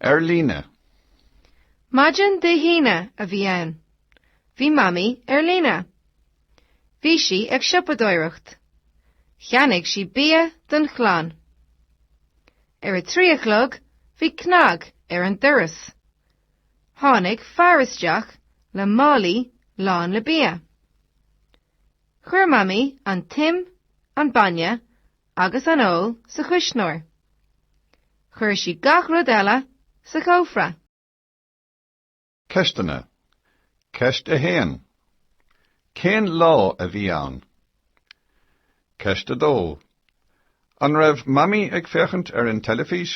Ar líne. Maidin Dé hAoine a bhí ann. Bhí Mamaí ar líne. Bhí sí ag siopadóireacht. Cheannaigh sí bia don chlann. Ar a trí a chlog bhí cnag ar an doras. Tháinig fear isteach le málaí lán le bia. Chuir Mamaí an t-im, an bainne agus an fheoil sa chuisneoir. Chuir sí gach rud eile sa chófra. Ceisteanna, Ceist 1. Cén lá a bhí ann? Ceist 2. An raibh Mamaí ag féachaint ar an teilifís?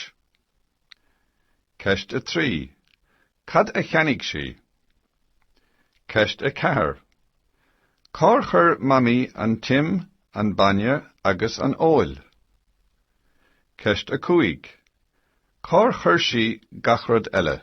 Ceist 3. Cad a cheannaigh sí? Ceist 4 Cár chuir Mamaí an t-im, an bainne agus an fheoil? Ceist 5 Cár chuir sí gach rud eile?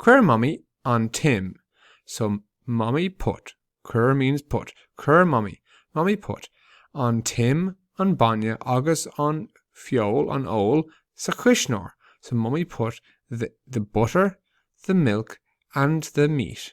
Chuir Mamaí an t-im so Mamaí put, chuir means put, Chuir Mamaí, Mamaí put, an t-im, an bainne agus an feoil, an fheoil, sa chuisneoir so Mamaí put the butter, the milk and the meat.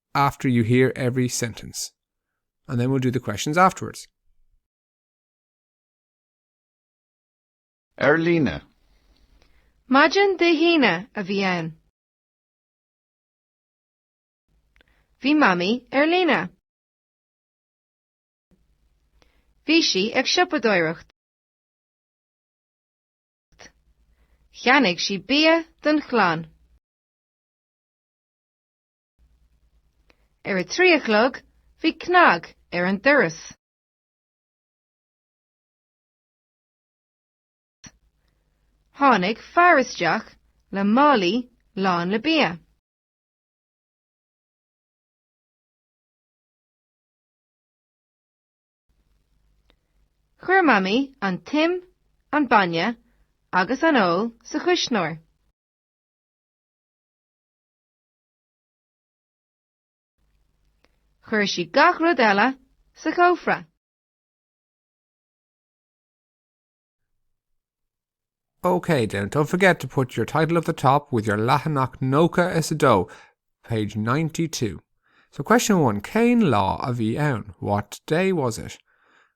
after you hear every sentence and then we'll do the questions afterwards. Ar líne. Maidin Dé hAoine a bhí ann. Bhí Mamaí ar líne. Bhí sí ag siopadóireacht. Cheannaigh sí bia don chlann. Ar a trí a chlog bhí cnag ar an doras. Tháinig fear isteach le málaí lán le bia. Chuir Mamaí an t-im, an bainne agus an fheoil sa chuisneoir. Chuir sí gach rud eile sa chófra. Okay then, don't forget to put your title at the top with your leathanach nócha is do, page 92. So question one, céin lá a bhí ann? What day was it?